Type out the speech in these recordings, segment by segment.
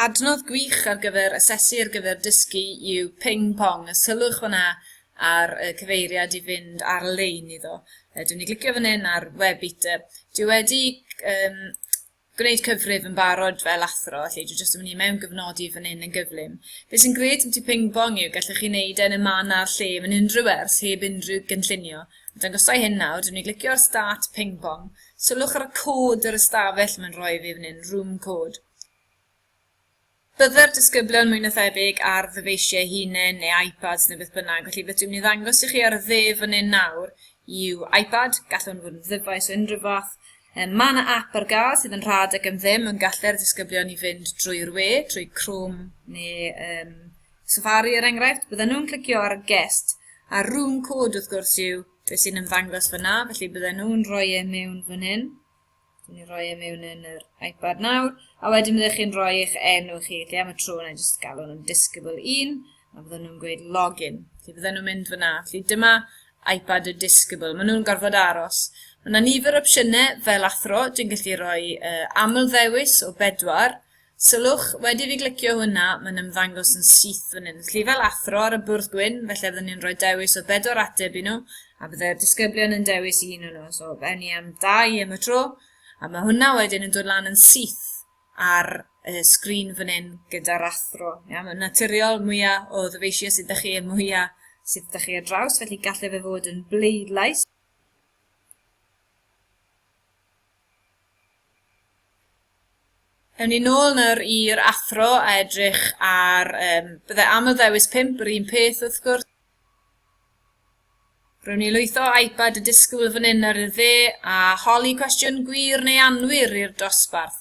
Adnodd gwych ar gyfer asesu ar gyfer dysgu yw Ping Pong, a sylwch fyna ar y cyfeiriad i fynd ar-lein iddo. Yy, Dwi'n ni glicio fan hyn ar Webit. Dwi wedi um, gwneud cyfrif yn barod fel athro, lle dwi jyst yn mynd i mewn gyfnodi fan hyn yn gyflym. Be sy'n gred am ti Ping Pong yw gallwch chi wneud e yn y man a'r lle yn unrhyw ers heb unrhyw gynllunio. Dangosau hyn nawr, dwi'n ni glicio ar Start Ping Pong, Sylwch ar y cod yr ystafell mae'n rhoi fi fan hyn, room code. Byddai'r disgyblion mwy na thebyg ar ddyfeisiau hunain neu iPads neu beth bynnag, felly beth dwi'n mynd i ddangos i chi ar y dde fan hyn nawr yw iPad, gallwn fod yn ddyfais o unrhyw fath. E, mae yna app ar gael sydd yn rhad ac yn ddim yn gallu'r disgyblion i fynd drwy'r we, trwy Chrome neu um, Safari er enghraifft. Bydden nhw'n clicio ar y guest, a room code wrth gwrs yw beth sy'n ymddangos fyna, felly bydden nhw'n rhoi e mewn fan hyn. Dwi'n ni rhoi e mewn yn yr iPad nawr, a wedyn byddwch chi'n rhoi eich enw chi, lle am y tro na jyst galw nhw'n disgybl 1, a bydden nhw'n gweud login. Felly bydden nhw'n mynd fyna, felly dyma iPad y disgybl, maen nhw'n gorfod aros. Mae yna nifer o opsiynau fel athro, dwi'n gallu rhoi uh, aml ddewis o bedwar, Sylwch, wedi i fi glicio hwnna, mae'n ymddangos yn syth fan hyn. Felly fel athro ar y bwrdd gwyn, felly fydden ni'n rhoi dewis o bedwar ateb i nhw, a byddai'r disgyblion yn dewis un o'n nhw. So, fe ni am dau i am y tro, a mae hwnna wedyn yn dod lan yn syth ar y sgrin fan hyn gyda'r athro. Ia, mae'n naturiol mwyaf o ddyfeisiau sydd ydych chi, y mwyaf sydd ydych chi ar draws, felly gallai fe fod yn bleidlais. Ewn ni nôl nawr i'r athro a edrych ar... Um, bydde am y ddewis 5 yr un peth wrth gwrs. Rwy'n ni lwytho iPad y disgwyl fan hyn ar y dde a holi cwestiwn gwir neu anwir i'r dosbarth.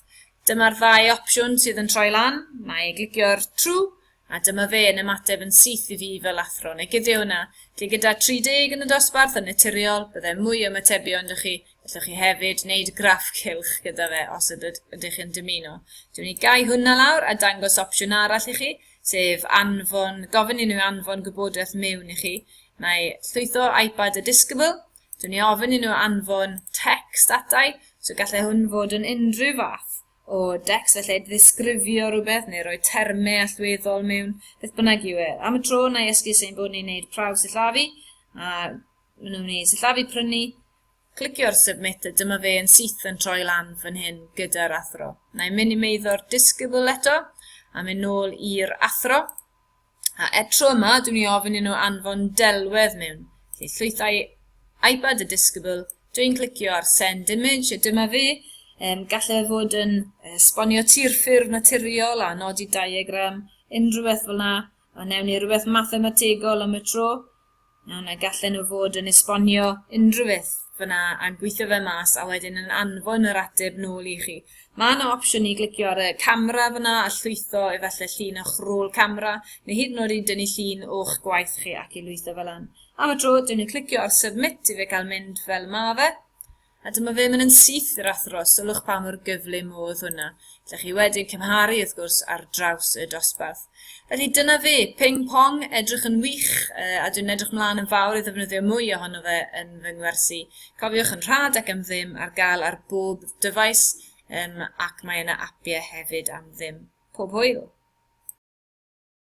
Dyma'r ddau opsiwn sydd yn troi lan. Mae glicio'r true A dyma fe yn ymateb yn syth i fi fel athro, neu Gideona, lle gyda 30 yn y dosbarth yn naturiol, bydde mwy o ymatebion 'da chi, gallwch chi hefyd wneud graff cylch gyda fe os ydyd, ydych chi'n dymuno. Dwi'n mynd i gau hwnna lawr a dangos opsiwn arall i chi, sef anfon, gofyn i nhw anfon gwybodaeth mewn i chi. Mae llwytho iPad a Discovery, dwi'n ei ofyn i nhw anfon text atai, so gallai hwn fod yn unrhyw fath o decst, felly ddisgrifio rhywbeth neu roi termau allweddol mewn, beth bynnag yw e. Am y tro, na i esgus ein bod ni'n neud prawf sillafu, a maen nhw'n ei sillafu prynu, clicio ar submit a dyma fe yn syth yn troi lan fan hyn gyda'r athro. Na i minimeiddo'r disgybl eto, a mynd nôl i'r athro, A eto yma, dwi'n ei ofyn i nhw anfon delwedd mewn. Felly llwyth a'i iPad y disgybl, dwi'n clicio ar send image, a dyma fi. Um, gallai e fod yn uh, sbonio tir ffurf naturiol a nodi diagram, unrhyw beth fel yna. A newn ni rhywbeth mathemategol am y tro. A na gallen nhw fod yn esbonio unrhyw beth fyna a'n gweithio fe mas a wedyn yn anfon yr ateb nôl i chi. Mae yna opsiwn i glicio ar y camera fyna a llwytho efallai llun o'ch rôl camera neu hyd yn oed i dynnu llun o'ch gwaith chi ac i lwytho fel lan. Am y tro, dwi'n ni'n clicio ar submit i fe gael mynd fel mae fe. A dyma fe mynd yn syth i'r athro, sylwch pa mor gyflym oedd hwnna. Gallech chi wedyn cymharu, wrth gwrs, ar draws y dosbarth. Felly dyna fe, ping pong, edrych yn wych, uh, a dwi'n edrych mlaen yn fawr i ddefnyddio mwy ohono fe yn fy ngwersi. Cofiwch yn rhad ac am ddim ar gael ar bob dyfais, um, ac mae yna apiau hefyd am ddim. Pob hwyl!